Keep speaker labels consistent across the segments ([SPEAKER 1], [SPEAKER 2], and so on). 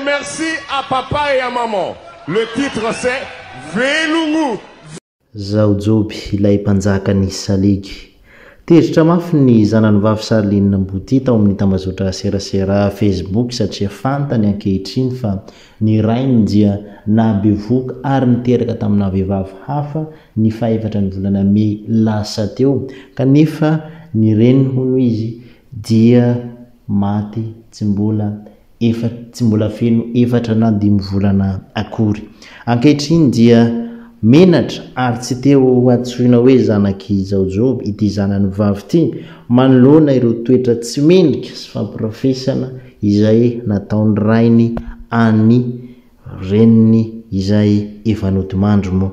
[SPEAKER 1] Merci à papa et à maman le titre c'est velogno. Zao
[SPEAKER 2] joby ilay mpanjaka ny salegy. Tezitra mafy ny zanany vavy Sarline Namboty tao amin'ny tambazotra serasera Facebook satria fantany ankehitriny fa ny rainy dia nahabevoka ary niteraka tamina vehivavy hafa ny fahefatra ny volana mey lasa teo kanefa ny reniny hono izy dia maty tsy mbola efa tsy mbola feno efatra na dimy volana akory. Ankehitriny dia menatra ary tsy te ho antsoina hoe zanak'i Jaojoby ity zanany vavy ity manoloana ireo toetra tsy mendrika sy fampirafesana izay nataon'ny rainy an'ny reniny izay efa nodimandry moa.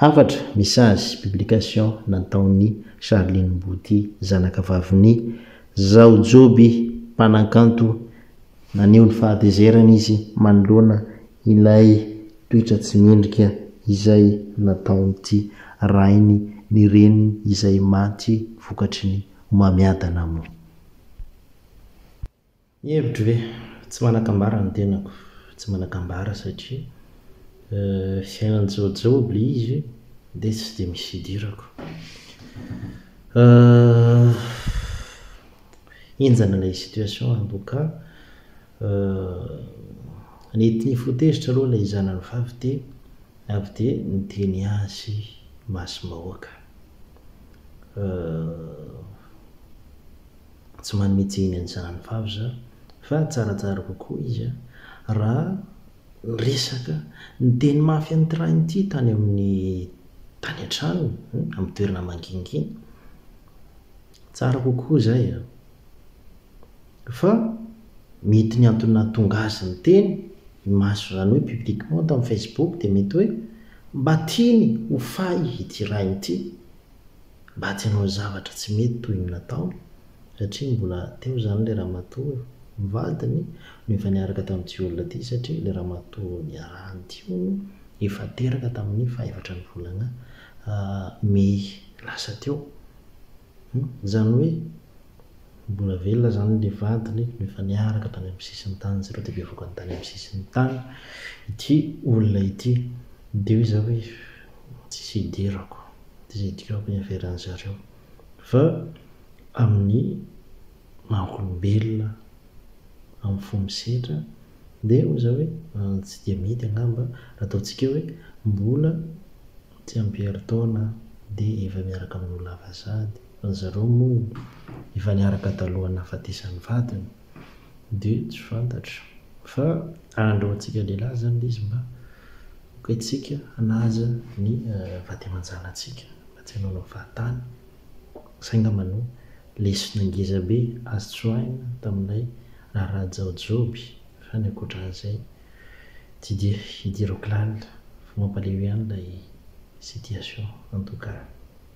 [SPEAKER 2] Hafatra, Misazy, publication nataon'i Charline Mboty zanaka vavin'i Zao Joby mpanankanto naneho ny fahatezerany izy manoloana ilay toetra tsy mendrika izay nataon'ity rainy ny reniny izay maty vokatry ny homamiadana moa. Hevitro ve? Tsy manan-kambara ny tenako. Tsy manan-kambara satria fiainan jojo bly izy dia tsy dia misy idirako. Henjana ilay situation en tout cas. Nety nifotezitra aloha ilay zanany vavy dia avy dia niteny azy masom-bahoaka. Tsy manome tsiny an'izany favy za fa tsaratsara kokoa izy raha niresaka niteny mafy an'ity raha ity tany amin'ny tany an-tranony amin'ny toerana mangingina. Tsara kokoa izay a! Fa mety ny antony nahatonga azy niteny imaso izany hoe publiquement tao amin'ny facebook dia mety hoe mba tiany ho fahy ity raha ity mba tsy hanao zavatra tsy mety toy ny nataony satria mbola teo izany ilay ramatoa vadiny no efa niaraka tamin'ity olona ity satria ilay ramatoa niarahany ity hono efa teraka tamin'ny fahefatra ny volana mey lasa teo. Izany hoe Mbola velona izany ilay vadiny no efa niaraka tany amin'ny sisin-tany zareo dia bevohoka ny tany amin'ny sisin'ny tany ity olona ity dia hoy izaho hoe tsisy hidirako, tsisy hidirako ny aferan'ny zareo fa amin'ny maha olombelona amin'ny fo misedra dia hoy izaho hoe tsy dia mety angamba raha ataontsika hoe mbola Tsy ampy herintaona dia efa miaraka amin'ny olona hafa sady ry zareo moa efa niaraka talohan'ny nahafatesan'ny vadiny dia tsy fantatra fa any raha antsika lehilahy izany ilay izy mba hokaitsika hanaja ny vady aman-janantsika mba tsy hanaonao fahatany izay angamba no lesona ngezabe azo tsoahina tamin'ilay raharaha jaojoby fa ny ankoatran'izay tsy dia idirako lalina fa mampaleo ihany ilay situation en tout cas.